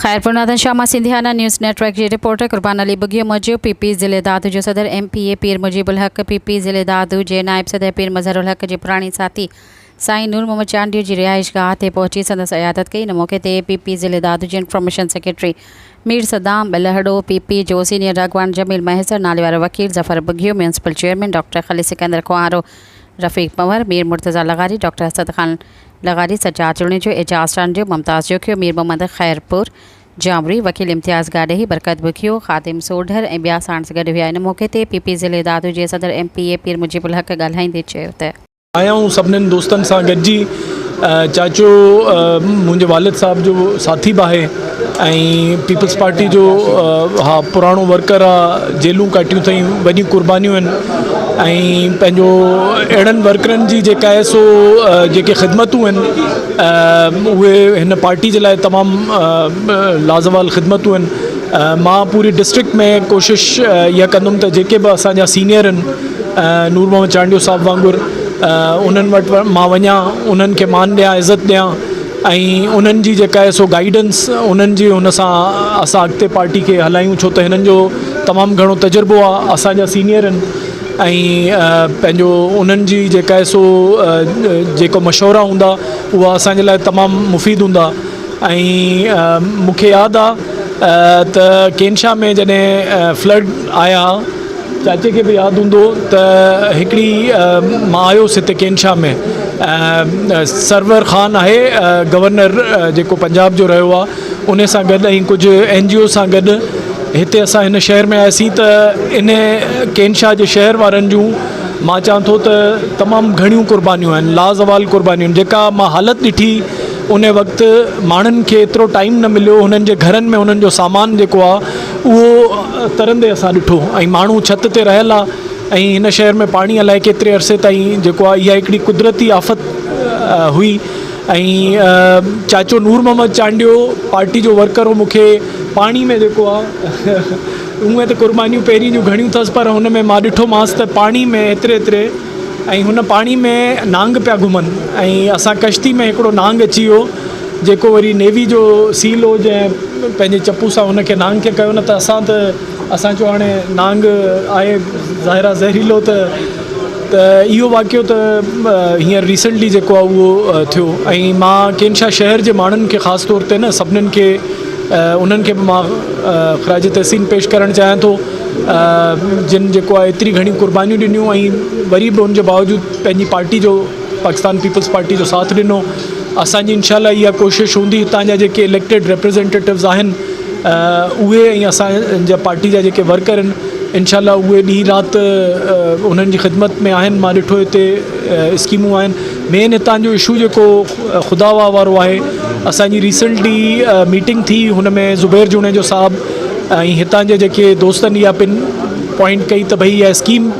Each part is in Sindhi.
خيرپور نادن شاهه مان سنڌيانا نيوز نيٽ ورڪ جي رپورٽر قربان علي ٻگهيو موجب پي پي ضلعي دادو جو صدر M P A Pir Mujeeb ul-Haq P P ضلعي دادو جي نائب صدر پير مظهر الحق جي پراڻي ساٿي سائين نور محمد چانڊيو جي رهائش گاهه تي پهچي سندس عيادت ڪئي ان موقعي تي پي پي ضلعي دادو جي information secretary Mir Saddam Bulhro P P جو سينيئر راڳواڻ جميل مهيسر ناليوارو وڪيل Zafar Bughio municipal chairman doctor Khalil Sikandar Khoharo Rafiq Panhwar Mir Murtaza لغاري ڊاڪٽر اسد خان لغاري سجاد جوڻيجو، اعجاز چانڊيو، ممتاز جوکيو، مير محمد خيرپور جامري، وڪيل امتياز گاڏهي، برڪت بگهيو، خادم سوڍر ۽ ٻيا ساڻس گڏ هيا. ان موقعي تي پي پي ضلعي دادو جي صدر M P A Pir Mujeeb ul Haq ڳالهائيندي چيو ته. آيائون سڀنين دوستن سان گڏجي چاچو منهنجي والد صاحب جو ساٿي به آهي. ۽ پيپلز پارٽي جو اھا پراڻو ورڪر آ جيلون ڪاٽيون اٿئين وڏيون قربانيون آھن ۽ پنھنجو اھڙن ورڪرن جي جيڪا آھي سو جيڪي خدمتون آھن اھي ھن پارٽي جي لاء تمام لازوال خدمتون آھن مان پوري ڊسٽرڪٽ ۾ ڪوشش اھا ڪندم ته جيڪي به اسان جا سينيئر آھن نور محمد چانڊيو صاحب وانگر انھن وٽ مان وڃان انھن کي مان ڏيان عزت ڏيان ۽ انهن جي جيڪا آهي سو گائيڊنس انهن جي ان سان اسان اڳتي پارٽي کي هلايون ڇو ته هنن جو تمام گهڻو تجربو آهي اسان جا سينيئر آهن ۽ پنهنجو انهن جي جيڪا آهي سو جيڪو مشورا هوندا اها اسان جي لاء تمام مفيد هوندا ۽ مون کي ياد آهي ته ڪينشا ۾ جڏهن فلڊ آيا چاچي کي به ياد هوندو ته هڪڙي مان آيس هتي ڪينشا ۾ سرور خان آهي گورنر جيڪو پنجاب جو رهيو آ ان سان گڏ ۽ ڪجهه اين جي او سان گڏ هتي اسان هن شهر ۾ آياسين ته ان ڪينشا جي شهر وارن جون مان چوان ٿو ته تمام گهڻيون قربانيون آهن لازوال قربانيون جيڪا مان حالت ڏٺي ان وقت ماڻهن کي ايترو ٽائيم نه مليو هنن جي گهرن ۾ هنن جو سامان جيڪو آ اهو ترندي اسان ڏٺو ۽ ماڻهو ڇت تي رهيل آ ۽ هن شهر ۾ پاڻي الائي ڪيتري عرصي تائين جيڪو آ اها هڪڙي قدرتي آفت هئي ۽ چاچو نور محمد چانڊيو پارٽي جو ورڪر هو مونکي پاڻي ۾ جيڪو آ اونئن ته قربانيون پهرين جون گهڻيون ٿس پر هن ۾ مان ڏٺو مانس ته پاڻي ۾ ايتري ايتري ۽ هن پاڻي ۾ نانگ پيا گهمن ۽ اسان ڪشتي ۾ هڪڙو نانگ اچي ويو جيڪو وري نيوي جو سي لو جنهن پنهنجي چپو سان ان کي نانگ کي ڪيو نه ته اسان ته اسان چيو هاڻي نانگ آهي ظاهر آهي زهريلو ته ته اهو واقعو ته هينئر ريسنٽلي جيڪو آهي اهو ٿيو ۽ مان ڪين شاهه شهر جي ماڻهن کي خاص طور تي نه سڀنن کي انهن کي به مان خراج تحسين پيش ڪرڻ چاهيان ٿو جن جيڪو آهي ايتري گهڻيون قربانيون ڏنيون ۽ وري به ان جي باوجود پنهنجي پارٽي جو پاڪستان پيپلز پارٽي جو ساٿ ڏنو اسان جي انشاء الله اها ڪوشش هوندي هتان جا جيڪي اليڪٽيڊ ريپريزينٽيوز آهن اهي ۽ اسان جا پارٽي جا جيڪي ورڪر آهن انشاء الله اهي ڏينهن رات انهن جي خدمت ۾ آهن مان ڏٺو هتي اسڪيمون آهن مين هتان جو اشو جيڪو خدا واهه وارو آهي اسانجي ریسنٽلي ميٽنگ ٿي هن ۾ زبير جوڻيجو صاحب ۽ هتان جي جيڪي دوستن اها پن پوائنٽ ڪئي ته ڀئي اها اسڪيم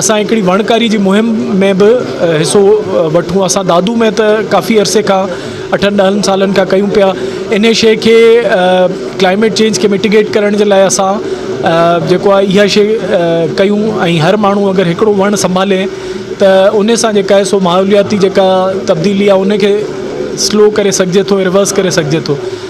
اسان هڪڙي وڻڪاري جي مهم ۾ به حصو وٺون اسان دادو ۾ ته ڪافي عرصي کان اٺن ڏهن سالن کان ڪيون پيا انهي شي کي ڪلائميٽ چينج کي مٽيگيٽ ڪرڻ جي لاء اسان جيڪو آهي اها شي ڪيون ۽ هر ماڻهو اگر هڪڙو وڻ سنڀالي ته انهي سان جيڪا آهي سو ماحولياتي جيڪا تبديلي آهي انهي کي سلو ڪري سگهجي ٿو ريورس ڪري سگهجي ٿو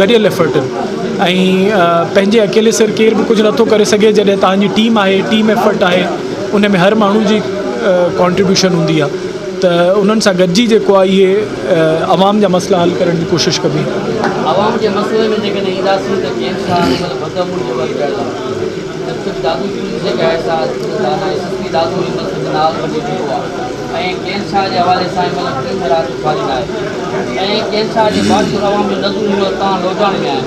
گڏيل ايفرٽن ۽ پنهنجي اڪيلي سر ڪير به ڪجهه نٿو ڪري سگهي جڏهن توهان جي ٽيم آهي ٽيم ايفرٽ آهي ان ۾ هر ماڻهو جي ڪانٽريبيوشن هوندي آهي ته انهن سان گڏجي جيڪو آهي اهي عوام جا مسئلا حل ڪرڻ جي ڪوشش ڪبي عوام جي مسئلن ۾ جيڪڏهن اينداسين ته جيئن سان هر مهل بدامون جو وقت آهي ته صرف دادو جي جيڪا احساس دانائي سستي دادو هي ملڪ جو ناز بني چڪو آهي ۽ ڪير شاهه جي حوالي سان ان مهل ٽيهه رات جو خالي نه آهي ۽ ڪير شاهه جي باقي روان جو نذر هيو تان لوڌاڻي ۾ آهن.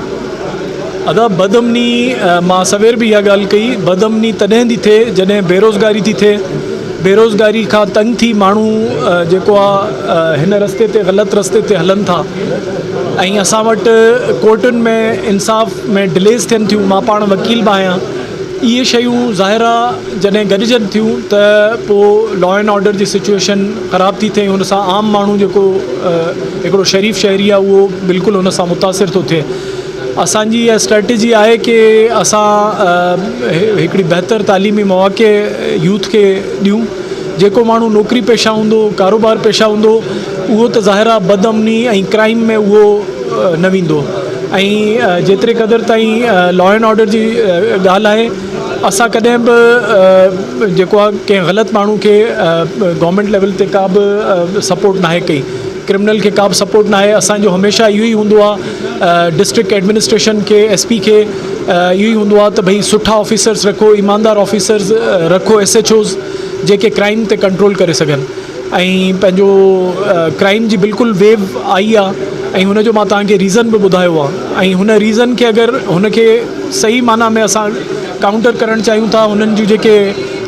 ادا بدامني مان سوير به اها ڳالهه ڪئي بدامني تڏهن ٿي ٿئي جڏهن بيروزگاري ٿي ٿئي بيروزگاري کان تنگ ٿي ماڻهو جيڪو آ هن رستي تي غلط رستي تي هلن ٿا ۽ اسان وٽ ڪورٽن ۾ انصاف ۾ ڊليز ٿين ٿيون مان پاڻ وڪيل به آهيان اهي شيون ظاهر آ جڏهن گڏجن ٿيون ته پو لا اينڊ آرڊر جي سچوئيشن خراب ٿي ٿئي ان سان عام ماڻهو جيڪو هڪڙو شريف شهري آ اهو بلڪل ان سان متاثر ٿو ٿئي اسان جي اها اسٽريٽجي آهي ڪي اسان هڪڙي بهتر تعليمي مواقع يوٿ کي ڏيون جيڪو ماڻهو نوڪري پيشه هوندو ڪاروبار پيشه هوندو اهو ته ظاهر آهي بد امني ۽ ڪرائيم ۾ اهو نه ويندو ۽ جيتري قدر تائين لا اينڊ آرڊر جي ڳالهه آهي اسان ڪڏهن به جيڪو آهي ڪنهن غلط ماڻهو کي گورنمينٽ ليول تي ڪا به سپورٽ ناهي ڪئي ڪرمنل کي ڪا به سپورٽ ناهي اسانجو هميشه اهو ئي هوندو آهي ڊسٽرڪٽ ايڊمنسٽريشن کي ايس پي کي اهو ئي هوندو آهي ته ڀئي سٺا آفيسرس رکو ايماندار آفيسرس رکو ايس ايچ اوز جيڪي ڪرائيم تي ڪنٽرول ڪري سگهن ۽ پنهنجو ڪرائيم جي بلڪل ويو آئي آ ۽ هن جو مان توهان کي ريزن به ٻڌايو آ ۽ هن ريزن کي اگر هن کي صحيح معنيٰ ۾ اسان ڪائونٽر ڪرڻ چاهيون ٿا هنن جون جيڪي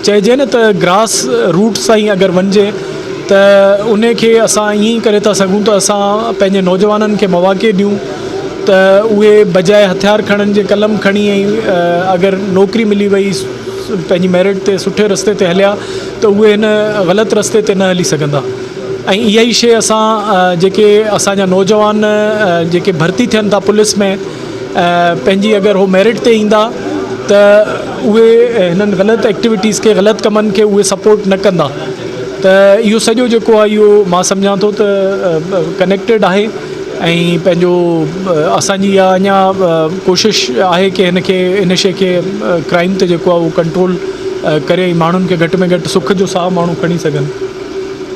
چئجي نه ته گراس روٽس تائين اگر وڃجي ته ان کي اسان ائين ئي ڪري ٿا سگهون ته اسان پنهنجي نوجوانن کي مواقع ڏيون ته اهي بجاء هٿيار کڻن جي قلم کڻي ۽ اگر نوڪري ملي وئي پنهنجي ميرٽ تي سٺي رستي تي هليا ته اهي هن غلط رستي تي نه هلي سگهندا ۽ اها ئي شيء اسان جيڪي اسان جا نوجوان جيڪي ڀرتي ٿين ٿا پوليس ۾ پنهنجي اگر هو ميرٽ تي ايندا ته اهي هنن غلط ايڪٽيويٽيز کي غلط ڪمن کي اهي سپورٽ نه ڪندا ته اهو سڄو جيڪو آهي اهو مان سمجهان ٿو ته ڪنيڪٽيڊ آهي ۽ پنهنجو اسان جي اها اڃا ڪوشش آهي ڪي هن کي هن شي کي ڪرائيم تي جيڪو آهي اهو ڪنٽرول ڪري ۽ ماڻهن کي گهٽ ۾ گهٽ سک جو ساهه ماڻهو کڻي سگهن.